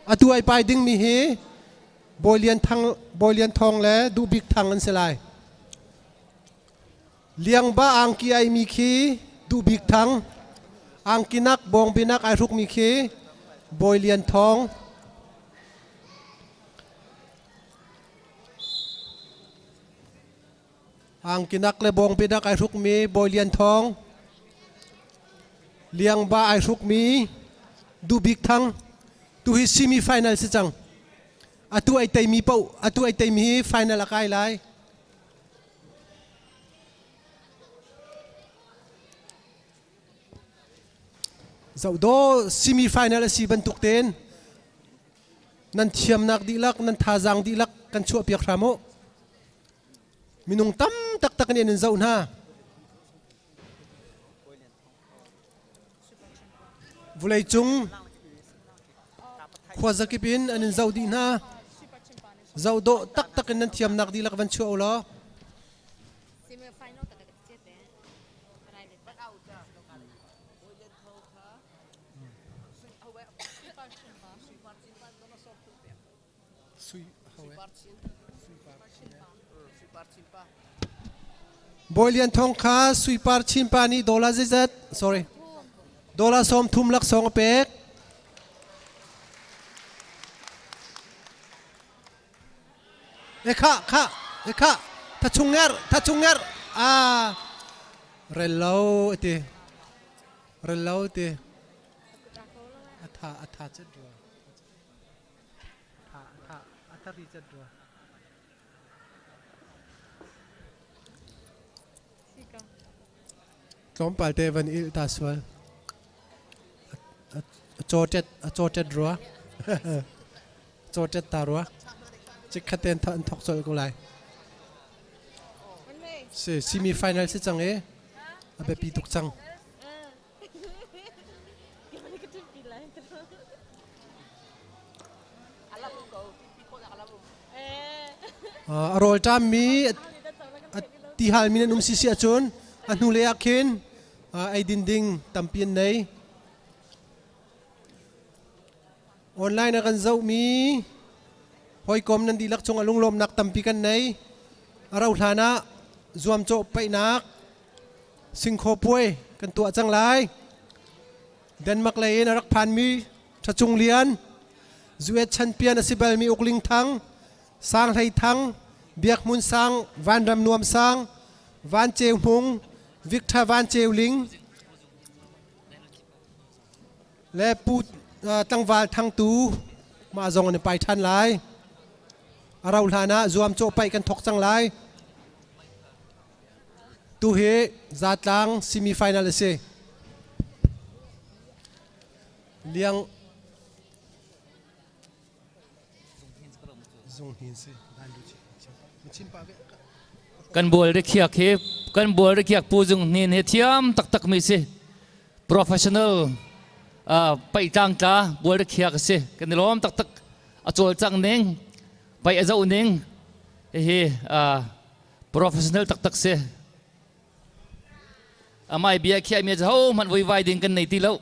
Atu ai pai dingmi hi Bawi Lian Thang Bawi Lian Thawng le Duh Bik Thang an si lai. Liangba angki aimi khi Duh Bik Thang, angkinak bawngbinak ai hrukmi khi Bawi Lian Thawng. angkinak le bawngbinak ai hrukmi bawi lian thawng liangba ai hrukmi dubik thang tuhi semi final si cang atu ai teimi poh atu ai teimi hi final a kai lai zodo semi final a si bantuk ten nan thiamnak dihlak nan thazang dihlak kan chuah piak hram u Minung tam taktak nih an zoh hna. Vulei cung khua zakip in an in zoh dih hna. Zoh dawh taktak in nan thiamnak dihlak van chuah u law. Bawi Lian Thawng kha suipar chinpa nih dollar zeizat sorry dollar sawm thum laksawng a pek. E kha kha e kha tha chung nger tha chung nger a rel lo ti rel lo ti atha atha chet rua A thar i cat rua. Tlawmpal te van il ta sual. A cawṭet a cawṭet rua. Cawṭet ta rua. Cikhat ten an thok colh ko lai. Si semi final si cang i a biapi tuk cang. Gimana ka ṭin pi lai. A lam um ko. Pi khawh a lam um. Uh, a rawlṭam mi ti hal mi nan um si si ahcun a hnu lei ah khin uh, ei dinding tampi an nei. online a kan zohmi hawikom nan dihlak cungah lunglawmnak tampi kan nei a rauh hlan ah zuamcawh paihnak singkhaw puai kan tuah cang lai denmark lei in a rak phanmi ṭhacung lian zuet chanpian a si balmi ukling thang sang hlei thang biakhmun sang vanram nuam sang van ceu hmung victha van ceu ling le pu tlangval thangtu mah zong an i pai ṭhan lai a rauh hlan ah zuamcawh paih kan thawk cang lai tu hi zatlang semi final a si liang Kan bual rikhiak hi kan bual rikhiak pu Zung Hnin hi thiam taktak mi si professional uh, pai tlang tla bual rikhiak si kan i lawm taktak a col cang ning pai a zau ning hi uh, professional taktak si amai bia khia mi ho man voi vai ding kan nei ti lo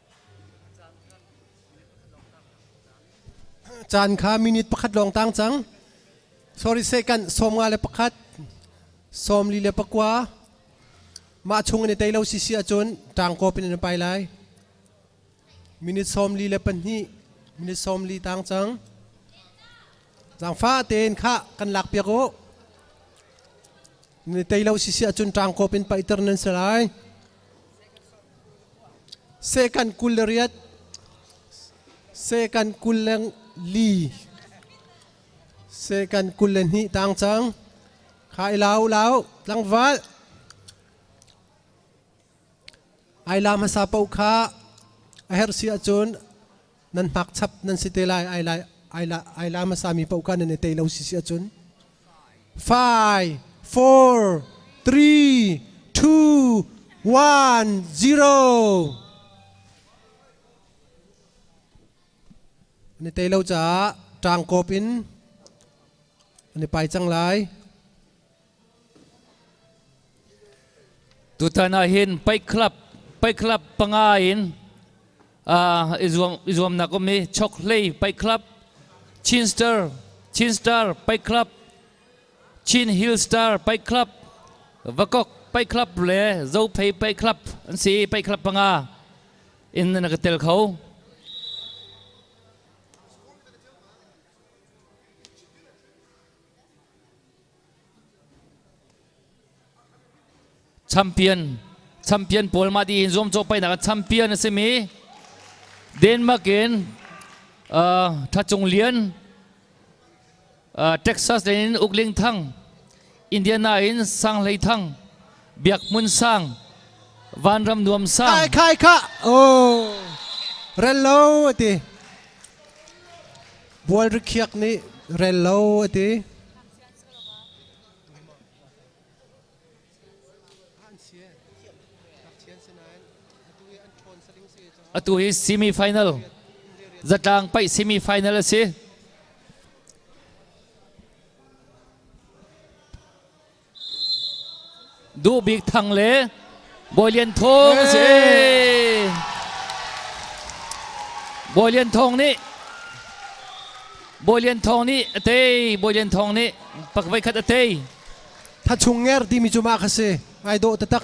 Caan kha minute pakhat lawng tang cang. Sorry second, sawm nga le pakhat. Sawm li le pakua. Mah chung in i tei lo sisi ahcun ṭangkawp in an pai lai. Minute sawm li le pahnih. Minute sawm li tang cang. Zangfa tein khah kan lak piak u. tei lo sisi ahcun ṭangkawp in paihter nan si lai sekan kul le riat sekan kul le li sekan kul le hnih tang cang khai lau lau tlangval ai la hmasa po kha a herh si ahcun nan hmak chap nan si te lai ai lai ai la ai la hmasa mi pauka nan i tei lo si si acun five four three two one zero ni tei lo caah ṭang kawp in ani pai cang lai Tutan ah hin Fight Club Fight Club panga in uh, i zuam i zuamnak um i Chokhlei Fight Club Chin Star Chin Star Fight Club Chin Hill Star Fight Club Vakok Fight Club le Zophei Fight Club an si Fight Club panga in na ka tel kho champion champion pawl mah ti hin zuamcawh painak ah champion a simi Denmark in uh, Thacung Lian uh, Texas in Ukling Thang Indiana in Sang Hlei Thang Biak Mun Sang Van Ram Nuam Sang kai kai ka oh rel lo ti Bual rikhiak nih rel lo a ti. Atu hi semi-final zatlang paih semi-final a si. Duh Bik Thang le Bawi Lian Thawng a si. Bawi Lian Thawng nih Bawi Lian Thawng nih a tei. Bawi Lian Thawng nih pak voi khat a tei. Tha Chung Nger timi cu mah kha si. Ai dawh taktak.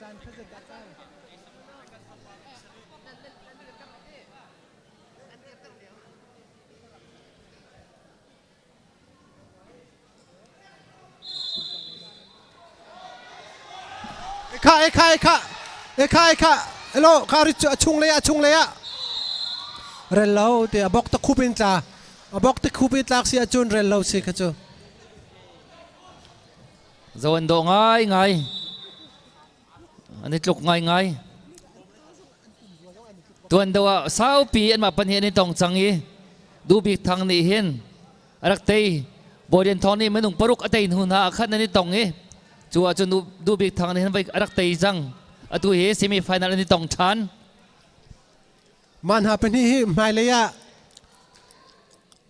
Caan khaza dah kal? Eka eka eka eka eka elo ka rit a chung le a chung le a rel lo te a bok ta khup in tla a bok te khup i tlak si a chun rel lo si kha chu Zo an daw ngaingai. An i tluk ngaingai. Tuan do ah saupi an mah pan hi an i tong cang i Dubik Thang nih hin rak tei Bodian Thong nih minung paruk a tei hnu hna ah khan an i tong i cu ah cun Dubik Thang nih hin a rak tei cang atu hi semi final an i tong ṭhan. Mah hna pahnih hi hmailei ah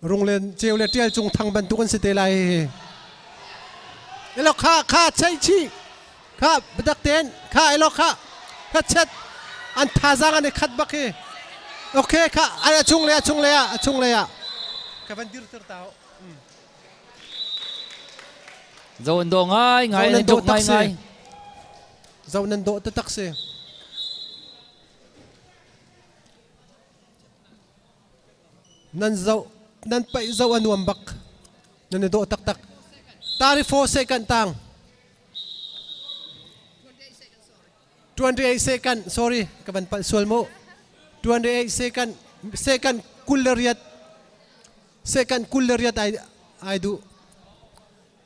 runglen ceu le ṭial cung thang bantuk an si te lai hihi. Elo kha kha chei chi kha badak ten kha elo kha kha chet an thazang an i khat bak hi. Okay kha ai a chung le a chung le ah a chung le ah ka van dir ter tao. Zo an do ngai ngai an dok ngai ngai. Zo nan do ta tak si. nan zoh nan paih zoh a nuam bak nan i dawh taktak tari four second tang 28 second sorry ka van pal sual mu 28 second second kul le riat second kul le riat ai ai du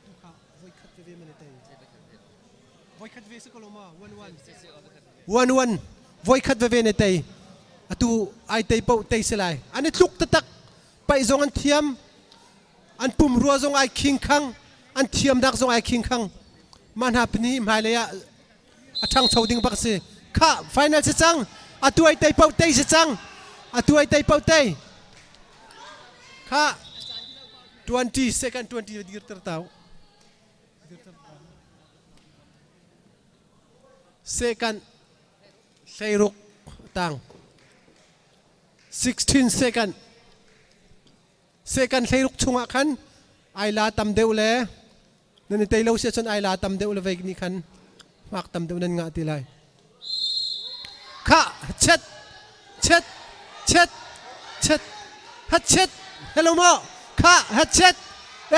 Tukha voikhat veve man i tel. Voikhat ve si ko lo ma one one. One one voikhat veve ne tei. Atu ai tei po tei se lai. An i tluk tatak pai zong an thiam. An pum rua zong ai khing khang. An thiam dak zong ai khing khang. Ma hna pani hmai lei ah a ṭhangcho ding bak si khah final si cang a tuai tei poh tei si cang a tuai tei poh tei kha 20 second 20 dir ter tau second hleiruk tang 16 second second hleiruk chungah khan ai la tam deuh le nan i tei lo sia cun ai la tam deuh le vei nih khan hmak tam deuh nan ngah ti lai kha chet chet chet chet ha chet hello mo kha ha chet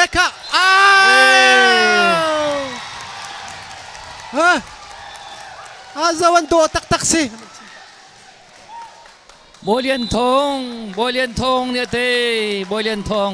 e kha ha a zawan do tak tak si Bolian thong Bolian thong nia te Bolian thong